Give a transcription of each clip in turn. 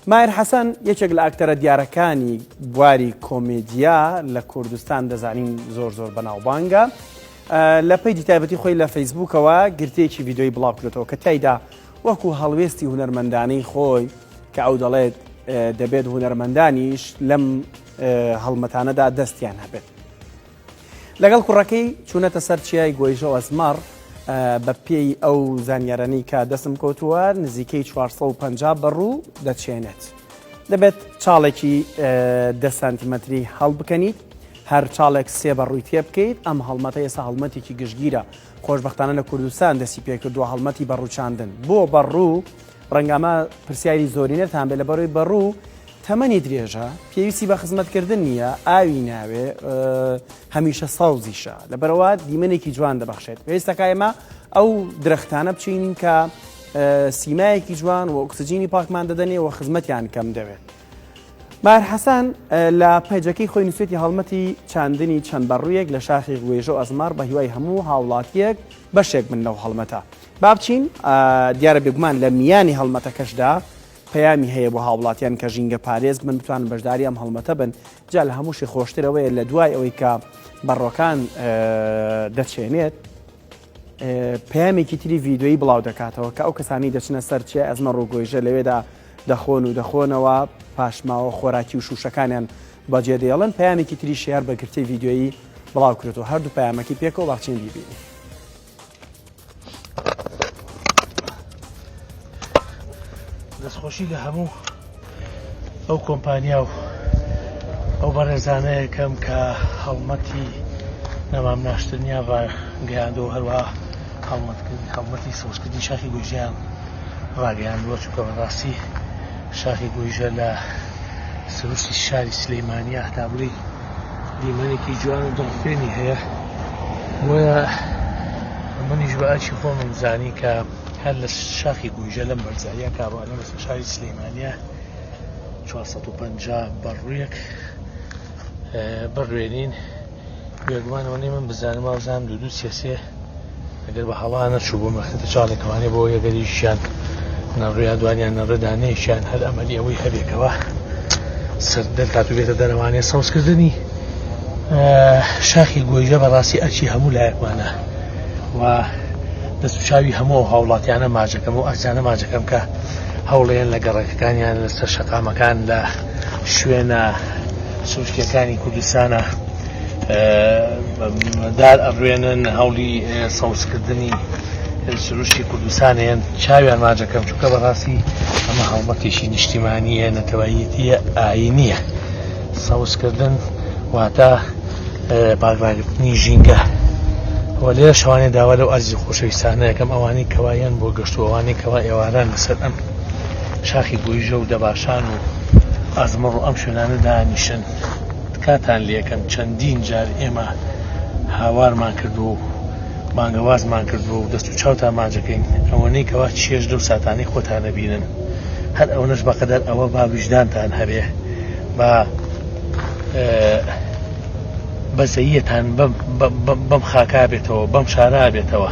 ماهر حەسەن یەکێک لە ئاکتەرە دیارەکانی بواری کۆمێدیا لە کوردستان دەزانین زۆر زۆر بەناوبانگە لە پەیجی تایبەتی خۆی لە فەیسبوکەوە گرتێکی ویددیوی بڵاوکرێتەوە کە تایدا وەکو هەڵوێستی هوەرمەندانەی خۆی کە ئەو دەڵێت دەبێت هوەرمەندانیش لەم هەڵمەتانەدا دەستیان هەبێت لەگەڵ کوڕەکەی چوونەتە سەر چیای گۆیژە و ئەزمەڕ، بە پێی ئەو زانیارانەی کە دەستم کەوتووە نزیکەی چوار سەد و پەنجا بەڕوو دەچێنێت. دەبێت چاڵێکی دە سانتیمەتری هەڵبکەنیت، هەر چاڵێک سێ بەڕووی تێبکەیت، ئەم هەڵمەتە ئێستا هەڵمەتێکی گشتگیرە، خۆشبەختانە لە کوردستان دەستی پێکردووە هەڵمەتی بەڕووچاندن بۆ بەڕوو، ڕەنگە ئەمە پرسیاری زۆرینەتان بێت لەبەرەوەی بەڕوو تەمەنی درێژە پێویستی بە خزمەتکردن نییە ئاوی ناوێ هەمیشە سەوزیشە لەبەرەوە دیمەنێکی جوان دەبەخشێت پێویستەکە ئێمە ئەو درەختانە بچینین کە سیمایەکی جوان و ئۆکسجینی پاکمان دەدەنێ و خزمەتیان کەم دەوێت. ماهر حەسەن لە پەیجەکەی خۆی نووسێتی هەڵمەتی چاندنی چەند بەڕوویەک لە شاخی گوێژە ئەزمار بە هیوای هەموو هاوڵاتیەک بەشێک من لەو هەڵمەتە بابچین دیارە بێگومان لە میانی هەڵمەتەکەشدا پەیامی هەیە بۆ هاوڵاتیان کە ژینگە پارێز من بتوان بەشداری ئەم هەڵمەتە بن جا لە هەمووشی خۆشترەوەیە لە دوای ئەوەی کە بەڕۆکان دەچێنێت پەیامێکی تری ڤیددیویی بڵاو دەکاتەوە کە ئەو کەسانی دەچنە سەر چیە ئەزمە ڕووگۆیژە لەوێدا دەخۆن و دەخۆنەوە پاشماوە خۆراکی و شوشەکانیان بەجێ دێڵن پەیامێکی تری شار بە گرتەی ڤیددیویی بڵاو کرێت و هەردوو پەیامەکەی پێکەوە باچین بیبینی دەستخۆشی لە هەموو ئەو کۆمپانیا و ئەو بەڕێزانەیەکەم کە هەڵمەتی نەمام ناشتنیا بە گەیاندەوە هەروە هەڵمەتکردنی هەڵمەتی سەوزکردنی شاخی گۆژیان ڕاگەیاندووە چونکە بەڕاستی شاخی گۆیژە لە سروشتی شاری سلەیمانیا هەتابووی دیمەنێکی جوان و دڵخوێنی هەیە بۆیە منیش بە ئەچی خۆمم زانی کە هەر لە شاخی گویژە لەم بەرزاییە کاروانە بەسە شاری سلەیمانە 450 بەڕوویەک بڕوێنین بێگومانەوە نی من بزانم وازان دوو دوو سێسێ ئەگەر بە هەڵا نەچوو بۆ مەخنتە چاڵێکەوانێ بۆ یەگەریشیان نەڕویا دوانیان نەڕدانەیەکیان هەر ئەمەلی ئەوەی هەبێکەوە سەر دەرکات و بێتە دەرەوانێ سەوزکردنی شاخی گۆیژە بەڕاستی ئەچی هەموو لایەکمانە و دەست و چاوی هەموو هاوڵاتیانە ماجەکەم و ئازانە ماجەکەم کە هەوڵێن لە گەڕەکەکانیان لەسەر شەقامەکان لە شوێنە سروشتەکانی کوردستانە دار ئەڕوێنن هەوڵی سەوزکردنی سروشتی کوردستان هێن چاویان ماجەکەم چونکە بەڕاستی ئەمە هەڵمەتێکی نیشتیمانیە نەتەوەیەتیە ئاینیە سەوزکردن واتە پاکراگرتنی ژینگە وە لێ شوانێ داوا لەو ئازی خۆشەویستانە یەکەم ئەوانی کەوایەن بۆ گەشتوەوانی کەوا ئێواران لەسەر ئەم شاخی گویژە و دەباشان و ئەزمڕ و ئەم شوێنانە دانیشن تکاتان لێکەم چەندین جار ئێمە هاوارمان کردووە و بانگەوازمان کردووە و دەست و چاوت ئاماجەکەین ئەوەنەی کەوا چێژ لەو ساتانی خۆتانە بینن هەر ئەوەش بەقەدەر ئەوە با ویژدانتان هەبێ با بەزەیەتان بەم بەم خاکا بێتەوە بەم شارا بێتەوە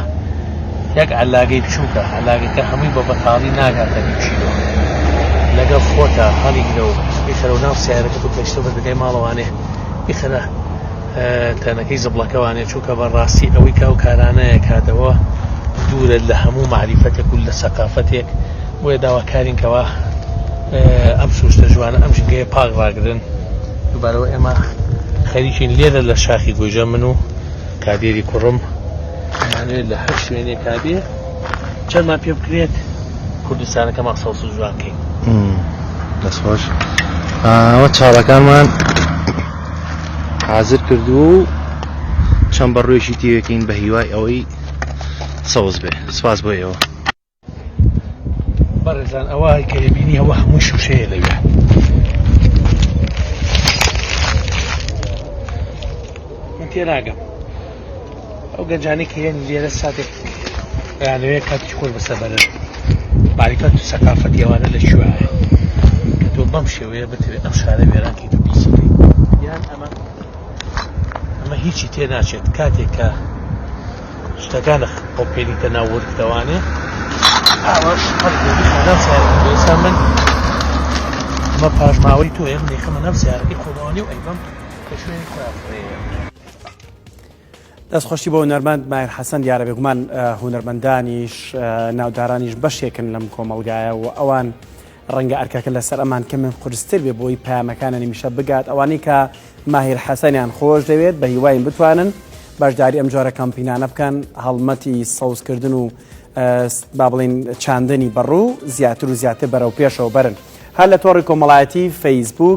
یەک علاگەی بچووکە علاگەکە هەمووی بە بەتاڵی ناگاتە بچیەوە لەگەڵ خۆتا هەڵیگرە و بخەرە ناو سیارەکە و گەشتە بەردەگای ماڵەوانێ بخەرە تەنەکەی زبڵەکەوانێ چووکە بە ڕاستی ئەوەی کاو کارانەیە کاتەوە دوورە لە هەموو معریفەتێک و لە سەقافەتێک بۆیە داواکارینکەوە ئەم سوستە جوانە ئەم ژنگەیە پاک ڕاگرن دوبارەوە ئێمە خەریکین لێرە لە شاخی گۆجە من و کادێری کوڕم ئەمانێت لە هەر شوێنێک کابێ چەندمان پێ بکرێت کوردستانەکەمان سەوز و جوان کەین دەستخۆش ئەوە چاڵەکانمان حازر کردو و چەند بەڕێژی تێوێکین بە هیوای ئەوەی سەوز بێ سپاس بۆ ئێوە بەڕێزان ئەوە کە بینی ئەوە هەموو شوشەیە لەوێ من تێناگەم ئەو گەنجانی کە هێن لێرە ساتێک یانەوەیە کاتی خۆر بەسە بەرن باریکەت و سەقافەت یوانە لە شوایە کە تۆ بەم شێوەیە بتوێت ئەم شارە وێرانکی تۆ پیسی یان ئەمە ئەمە هیچی تێ ناچێت کاتێکە شتەکان خۆپێنیتە ناو ورد دەوانێ ئاواش ئێستا من مە پاشماوەی تۆ ئێم دەیخەمە ناو سیارەکەی خۆمانی و ئەیبم کە شوێنی خۆیان بڕێە دەست خۆشی بۆ هونەرمەند مایر حەسەن دیارە بێگومان هونەرمەندانیش ناودارانیش بەشێکن لەم کۆمەلگایە و ئەوان ڕەنگە ئەرکەکە لەسەر ئەمان کەمێک قورستر بێ بۆی پەیامەکانە نمیشە بگات ئەوانەی کە ماهیر حەسەنیان خۆش دەوێت بە هیواین بتوانن بەشداری ئەم جۆرە کەمپینانە بکەن هەڵمەتی سەوزکردن و با بڵین چاندنی بەڕوو زیاتر و زیاتر بەرەو پێشەوە بەرن هەر لە تۆڕی کۆمەڵایەتی فەیسبوک